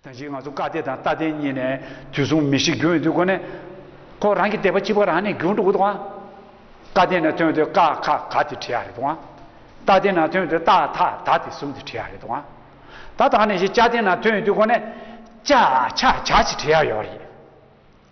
དོན་གྱིས་ང་ཚོ་བཀའ་གཏེར་དང་རྟ་གདན་གཉིས་ནས་དུས་གསུམ་མི་ཤིགས་རྒྱུན་ཡོད་དུས་དགོན་ནས་ཁོ་རང་གི་དད་པ་སྐྱིད་པ་རང་ནས་རྒྱུན་འགྲོ་གི་འདུག་ཨང། བཀའ་གཏེར་ནས་ཐོན་དུས་ཀ་ཁ་ག་དེ་བྲིས་ཡག་རེད་འདུག་ཨང། རྟ་གདན་ནང་ཐོན་དུས་ཏཱ་ཐ་ད་དེ་གསུམ་དེ་བྲིས་ཡག་རེད་འདུག་ཨང། ད་ལྟ་ནས་བཞིན་བཅའ་གདན་ནང་ཐོན་ཡོད་དུས་དགོན་ནས་ཅཱ་ཆ་ཆ་ཞེས་བྲིས་ཡག་ཡོད་རེད།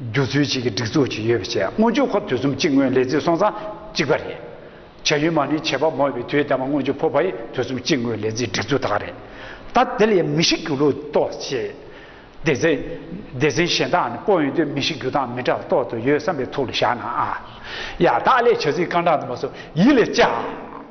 རྒྱུ་ཚུལ་གཅིག་གི་སྒྲིག་འཛུགས་གཅིག་ཡོད་པའི་ཆེད་སྔོན་ཇུས་འཁོར་དུས་གསུམ་གཅིག་སྔོན་ལས་རྩིས་སོང་ཚང་གཅིག་པ་རེད། བྱ་ཡུལ་མ་ནི་བྱེད་པ་མོ་བའི་དུས་ལྟ་བ་སྔོན་ཇུས་འཕོ་བའི་དུས་གསུམ་གཅིག་སྔོན་ལས་རྩིས་སྒྲིག་འཛུགས་དག་རེད། ད་དེ་ལས་མི་ཤི་རྒྱུ་ལུགས་རྟོགས་ཆེད། སྡེ་ཚན། སྡེ་ཚན་གཞན་དག་ནི་སྤོ་ཡོང་དུས་མི་ཤི་རྒྱུ་དང་མི་དྲག་རྟོགས་དུ་ཡོད་བསམ་པའི་ཐུགས་ལ་བཞག་ན་ཨ། ཡ། དག་ལས་བྱ་ཚིག་རྐང་གྲངས་དུ་མ་སོགས་ཡིད་ལ་བཅའ།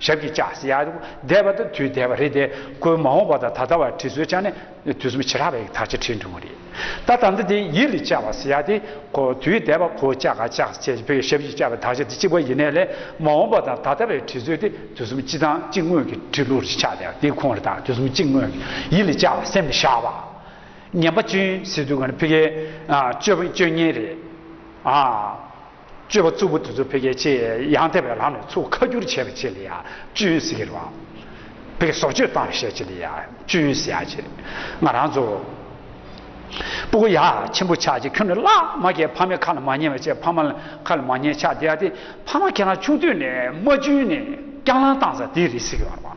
ཞབས་ཀྱིས་བཅགས། བཟླས་པ་དང་དུས་བཟླས་པ་རེད་དེ། ཁོའི་མ་འོངས་པ་དང་ད་ལྟ་བར་བྲིས་སྲོལ་ཅང་ནས་དུས་གསུམ་ཕྱི་རགས་པའི་ཡིག་ཐག་ཆེ་ཁྲིད་འགྲོ་གི་རེད། ད་དམ་ཚིག་དེ་ཡིད་ལ་བཅགས་པ་ཟེར་ཡ་དེ། དུས་བཟླས་པ་ཁོ་བཅག་ག་བཅག་བཅས་ཀྱི་བོད་ཞབས་ཀྱིས་བཅགས་པའི་དག་ཆ་དེ་གཅིག་པ་ཡིན་ནའི་ལས། མ་འོངས་པ་དང་ད་ལྟ་བའི་བྲིས་སྲོལ་དེ་དུས་གསུམ་གཅིག་དང་གཅིག་སྔོན་གྱི་བྲིས་ལུགས་རེད་ཆགས་བསྡད་དེ་ཁོང་རེ་དང་དུས་གསུམ་གཅིག་སྔོན་གྱི་ཡིད་ལ་བཅགས་པ་སེམས་ལ་བཞག་པ། ངན་པ་གཅུན་སྲིད་དུ་ག་ནི་ཕི་གའི། སྤྱོད་སྙན་རེད། སྤྱོད་པ་རྩུབ་པོ་དེ་ཚོ་ཕལ་སྐད་ཆེ་ཡང་དེ་བས་ལྷག་ནས་ཚུགས་ཁ་བསྒྱུར་བྱས་པ་ཆེ་ལ་ཡང་སྤྱོད་ཡོན་ཟེར་གྱི་རོགས། བོད་ཀྱི་ཟོག་སྤྱོད་བཏང་བ་ཤས་ཆེ་ལ་ཡང་སྤྱོད་ཡོན་ཟེར་ཡག་ཆེ། ང་རང་ཚོ། སྤུ་གུ་ཡག་ཆེན་པོ་ཆགས་ཀྱི་ཁྱོད་ནི་བླ་མ་ཁྱེད་ཕ་མའི་ཁ་ལ་མ་ཉན་བ་བཅས་ཕ་མ་ལ་ཁ་ལ་མ་ཉན་ཆགས་བསྡད་ཡག་དེ་ཕ་མ་ཁྱེད་རང་ཆུང་དུས་ནས་མ་བཅུན་ནས་སྐྱག་ལངས་བཏང་ས་དེ་རེད་ཟེར་གྱི་རོགས།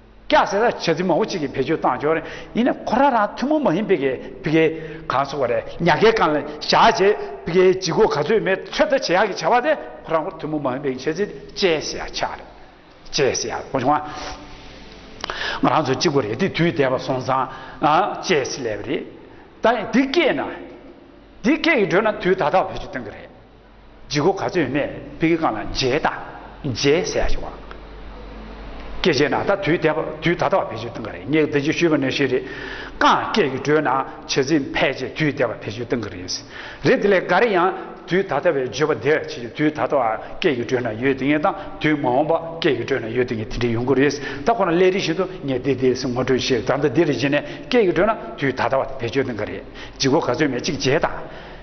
སྐྱ་སེར་ར་བྱ་ཚིག་མང་བོ་གཅིག་གིས་བེད་སྤྱོད་བཏང་ཆོག་ཡིན་ནས་ཁོ་རང་རང་ཐུན་མོང་མ་ཡིན་པའི་གི་བི་གའི་གང་ཚོགས་པ་རེད་ཉག་གའི་གང་ལ་བཞག་བྱས་བི་གའི་ལྗིད་གོ་ག་ཚོད་མེད་ཚོད་ལྟ་བྱེད་ཡག་གི་བྱ་བ་དེ་ཁོ་རང་ཁོར་ཐུན་མོང་མ་ཡིན་པའི་གི་བྱས་ཚིག་དེ་བཅས་སེ་ཡ་ཆགས་རེད་བཅས་སེ་ཡ་གོ་བྱུང་ང་ང་རང་ཚོ་གཅིག་པོ་རེད་དེ་དུས་འདས་པ་སོང་ཙང་བཅས་སེ་ལས་པ་རེད་ད་ཡིན་འདི་སྐད་ན་འདི་སྐད་ཀྱི་འགྲོས་ན་དུས་ད་ལྟ་བ་བེད་སྤྱོད་གཏོང་གི་རེད། ལྗི་སྒོ་ག་ཚོད་ཡོད་མེད་བི་གི་ཀང་ལ་མཇལ་ད་མཇལ་ཟེར་ཡག་ཞིག་བ། སྐད་བྱས་ན་ད་དུས་དད་པ་དུས་ད་ད་བ་བེད་སྤྱོད་གཏང་གི་རེད་ངས་དེ་ཅིག་ཞུས་པ་ནས་ཤི་རེད་ཀང་སྐད་ཀྱི་འགྲོས་ན་བྱེད་ཚིག་ཕལ་ཆེར་དུས་དད་པ་བེད་སྤྱོད་གཏང་གི་རེད་རེད་དེ་ལས་འགའ་རེ་ཡང་དུས་ད་ད་བའི་བརྗོད་པ་དེ་ཕྱི་ཆོས་དུས་ད་ད་བ་སྐད་ཀྱི་འགྲོས་ན་ཡོད་དེ་ངེས་དང་དུས་མ་འོངས་པ་སྐད་ཀྱི་འགྲོས་ན་ཡོད་དེ་ངེས་དེ་འདྲ་ཡོང་གི་རེད་ད་ཁོ་ན་སླད་རིགས་བཞིན་དུ་ངས་དེ་དེ་སི་ངོ་སྤྲོད་བྱེད་ད་ལྟ་འདི་རེད་བྱས་ནས་སྐད་ཀྱི་འགྲོས་ན་དུས་ད་ད་བ་དེ་བེད་སྤྱོད་གཏང་གི་རེད་ལྗི་སྒོ་ག་ཚོད་མེད་ཅིག་མཇལ་ད།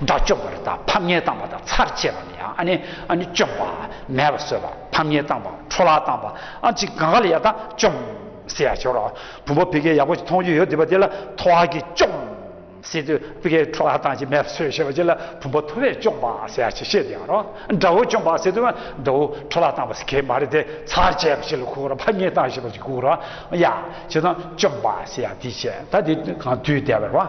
དགྲ་བཅོམ་པར་དང་ཕམ་ཉེས་བཏང་བ་དང་ཚར་བཅད་པ་ནི་ཡང་ནི་བཅོམ་པ། མེད་པར་གསོད་པ་ཕམ་ཉེས་བཏང་བ་འཕྲོ་བརླག་བཏང་བ་གཅིག་གང་ག་ལ་ཡང་དག་བཅོམ། སེ་ཡ་ཞོར་བུམ་པ་བི་གའི་ཡག་པོ་ཞིག་མཐོང་རྒྱུ་ཡོད་འདུག་པ་དེ་ལ་ཐོ་བ་གིས་བཅོམ། སེ་དུ་བི་གའི་འཕྲོ་བརླག་བཏང་ཞིང་མེད་པར་གསོད་ཞེས་པ་ཅི་ལ་བུམ་པ་ཐོ་བས་བཅོམ་པ་སེ་ཡ་ཞེས་བཤད་དེ་ཡང་རོ། དགྲ་བོ་བཅོམ་པ་སེ་དུ་མ་དགྲ་བོ་འཕྲོ་བརླག་བཏང་བ་སེ་གའི་མ་རེད་དེ་ཚར་བཅད་པ་ཞིག་ལ་ཁུག་རོ་ཕམ་ཉེས་བཏང་ཞེས་པ་ཞིག་ཁུག་རོ། ཡ། ཞེས་དང་བཅོམ་པ་སེ་ཡ་དེ་བྱས་ད་དེ་གང་དུས་བདེ་བར་བ།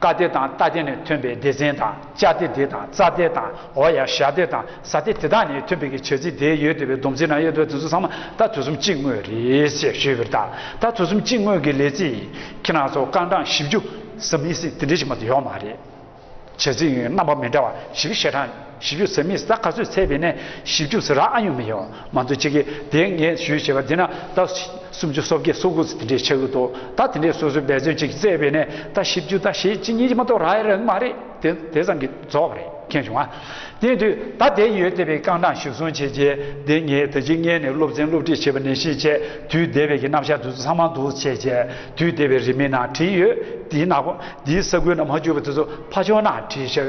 ཀ་སྡེ་དང་རྟ་སྡེ་ནས་ཐོན་པའི་སྡེ་ཚན་དང་ལྕགས་སྡེ་སྡེ་དང་རྩྭ་སྡེ་དང་འོ་ཡ་ཞག་སྡེ་དང་ཟ་སྡེ་དེ་དག་ནས་ཐོན་པའི་གི་བྱ་རྩི་སྡེ་ཡོད་དེ་བའི་སྡོམ་རྩིས་ནང་ཡོད་དེ་བས་དུས་ཚོད་ཚང་མ་ད་དུས་གསུམ་གཅིག་ངོས་རེད་ཅེས་ཞུས་པའི་ཐད་ད་དུས་གསུམ་གཅིག་ངོས་ཀྱི་ལས་རྩི་ཁྱེད་རང་ཚོ་རྐང་གྲངས་བཞི་བཅུ་གསུམ་ཡིན་སྲིད་དེ་འདྲའི་ཞིག་མ་དུ་ཡོད་མ་རེད་བྱ་རྩི་ཡོད་རྣམ་པ་མི་འདྲ་བ་ཞིག་གི་བཤད་གྲངས་ཞིབ་འཇུག་ཟེར་མི་ཟ་ག་ཚོད་ཚད་པའི་ནས་ཞིབ་འཇུག་ཟེར་ར་ཨ་ཡོང་མི་ཡོ་མ་འདུག་ཅི་གི་དེ་ངས་ཞུས་བྱས་པ་དེ་ན་ད་སུམ་ཅུ་སོ་བརྒྱད་སོ་དགུ་ཚོ་དེ་འདྲས་ཆགས་ཀྱི་འདུག་ད་དེ་འདྲས་སོ་སོའི་འབད་བརྩོན་ཅིག་བཙལ་བས་ནས་ད་ཞིབ་འཇུག་ད་ཞེ་གཅིག་གཉིས་ཀྱི་མ་གཏོགས་ར་ཡ་ར་གི་མ་རེད་དེ་དེ་ཙམ་གྱི་རྫོགས་པ་རེད་མཁྱེན་བྱུང་ང་དེ་དུས་ད་དེ་ཡོད་བལྟས་པའི་རྐང་གྲངས་ཞིབ་བཟུང་བྱས་རྗེས་དེ་ངས་ད་ཅི་མངལ་ནས་སློབ་ཚན་སློབ་ཁྲིད་བྱས་པ་ནས་ཤེས་བྱས་དུས་འདས་པའི་གི་རྣམ་གཞག་དུས་ཚོད་ཚང་མ་འདུག་བྱས་རྗེས་དུས་འདས་པའི་རིས་མེད་ན་བྲིས་ཡོད་དེའི་ནག་པོ་འདིའི་ས་ཁུལ་ན་མ་བཅུག་པ་དེ་ཚོ་ཕ་ཆོག་ན་བྲིས་ཤག་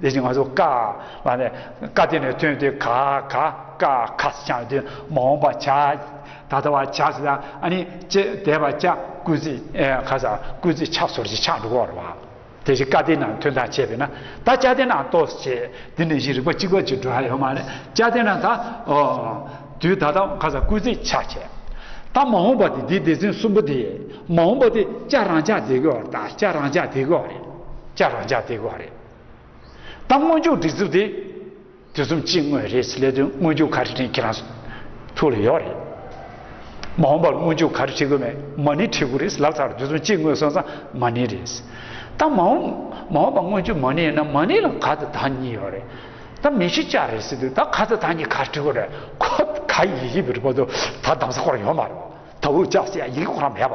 དེ་བཞིན་ང་ཚོ་ཀ་ལ་ནི་ཀ་དེ་ནས་ཐོན་ཏེ་ག་ག་ཀ་ཁ་སི་ཆང་དེ་མ་འོངས་པ་བྱ་ད་ལྟ་བ་བྱ་སི་ལ་ཨ་ནི་ཅེ་དེ་བ་ཅ་ཀུ་ཙི་ཁ་ས་ཀུ་ཙི་ཆག་སོར་ཅི་ཆག་འགྲོ་གོ་ར་བ་དེ་བཞིན་ཀ་དེ་ནང་ཐོན་ད་བྱས་པས་ན་ད་ཅ་དེ་ནང་ཏོ་སི་བྱས་དེ་ནས་བཞིན་རིག་པ་གཅིག་པ་གཅིག་འགྲོ་ཡ་ཡོད་མ་རེད་ཅ་དེ་ནང་ད་ཨོ་དུས་ད་ལྟ་ཁ་ས་ཀུ་ཙི་ཆག་བྱས་ད་མ་འོངས་པ་དེ་དེ་སྡེ་ཚན་གསུམ་པོ་དེ་མ་འོངས་པ་དེ་ཅ་རང་ཅག་དེ་གོ་ར་ད་ཅ་རང་ཅག་དེ་གོ་ར་རེད་ཅ་རང་ཅག་དེ་གོ་ར་རེད། ད་སྔོན་འཇུག་སྒྲིག་རྩུབ་དེ་དུས་གསུམ་སྤྱི་དངོས་རེད་ཚེ་ལས་དོན་དངོས་འཇུག་ག་རེ་བྲིས་ཁྱེད་རང་ཐུགས་ལ་ཡོད་རེད། མ་འོངས་པར་དངོས་འཇུག་ག་རེ་བྲིས་དགོས་མེད་མ་ཎི་བྲིས་དགོས་རེད་ལབ་ཚར་དུས་གསུམ་སྤྱི་དངོས་སོང་ཙང་མ་ཎི་རེད། ད་མ་འོངས་མ་འོངས་པ་དངོས་འཇུག་མ་ཎི་ཡིན་ན་མ་ཎི་ལ་ག་ཚད་ད་གཉིས་ཡོད་རེད། ད་མི་ཤི་ལྕགས་རེད་ཟེར་དུས་ད་ག་ཚད་ད་གཉིས་ག་རེ་བྲིས་དགོས་རེད་ཁོ་ག་ཡིག་ཡིག་བྲིས་པ་དུ་ད་གདམ་ས་སྐོར་ཡོད་མ་རེད། ད་འུ་ཅག་སྲིད་ཡག་ཡིག་སྐོར་མེད་པ།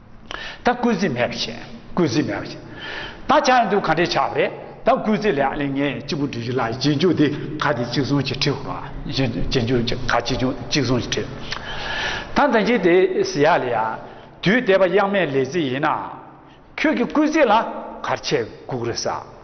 ད་སྐུལ་རྩི་མེད་པར་བྱས། སྐུལ་རྩི་མེད་པར་བྱས། ད་ཆ་ཡང་དུ་ག་འདྲས་ཆགས་པ་རེད། ད་སྐུལ་རྩི་ལས་ཨ་ལེ་ངས་གཅིག་པུ་འབྲི་རྒྱུ་ལ་གཅིག་འཇུག་དེ་ག་དེ་གཅིག་བཟུང་གཅིག་ཁྲིད་དགོས་པ། གཅིག་འཇུག་གཅིག་འཇུག་གཅིག་ག་གཅིག་གཅིག་བཟུང་གཅིག་ཁྲིད། ད་ད་གཅིག་དེ་ཟེར་ཡ་ལེ་ཡ། དུས་འདས་པ་དབྱངས་མེད་ལས་རྩི་ཡིན་ན། ཁྱོད་ཀྱི་སྐུལ་རྩི་ལ་གར་ཆས་གུག་རེ་ཟ།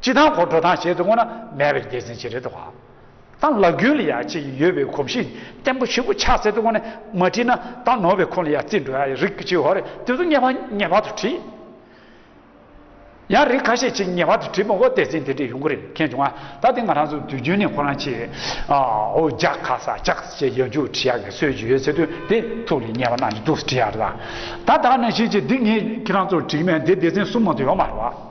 སྤྱི་དང་གོ་འཕྲོ་དང་བྱེད་དུ་བསྔོ་ན་མེད་པའི་རྒྱལ་མཚན་ཅི་རེད་དོ། དང་ལག་རྒྱུན་ལ་ཡང་ཅི་ཡོད་པའི་གོམས་གཤིས་བརྟན་པོ་ཞིག་གོ་ཆག་བསྲེ་དུ་བསྔོ་ནས་མ་བྲིས་ན་དང་ནོར་བའི་ཁོང་ལ་ཡང་རྩིས་འགྲོ་ཡ་རིགས་གཅིག་ཧོར་རེད་དེ་ཚོ་ངེས་པ་ངེས་པ་དུ་བྲིས། ཡང་རིགས་ཁ་ཤས་ཅིག་ངེས་པ་དུ་བྲིས་མ་གོ་དེ་ཚེ་དེ་འདྲས་ཡོང་གི་རེད་མཁྱེན་བྱུང་ང་ད་ལྟ་ང་རང་ཚོ་དུས་རྒྱུན་ནས་ཁོ་རང་ཆེ་འོ་ཇ་ཁ་ས་ཇག་ས་ཅེས་ཡ་འཇུག་བྲིས་ཡ་གི་སྲོལ་ཡོད་ཚེ་དུས་དེ་ཐུགས་ལ་ངེས་པ་གནང་གི་འདུག་བྲིས་ཡ་རེད་ད་ད་ནས་ཤེས་ཀྱི་འདི་ངས་ཁྱེད་རང་ཚོར་བྲིས་མེད་འདི་སྡེ་ཚན་གསུམ་མང་དུ་ཡོད་མ་རེད་བ།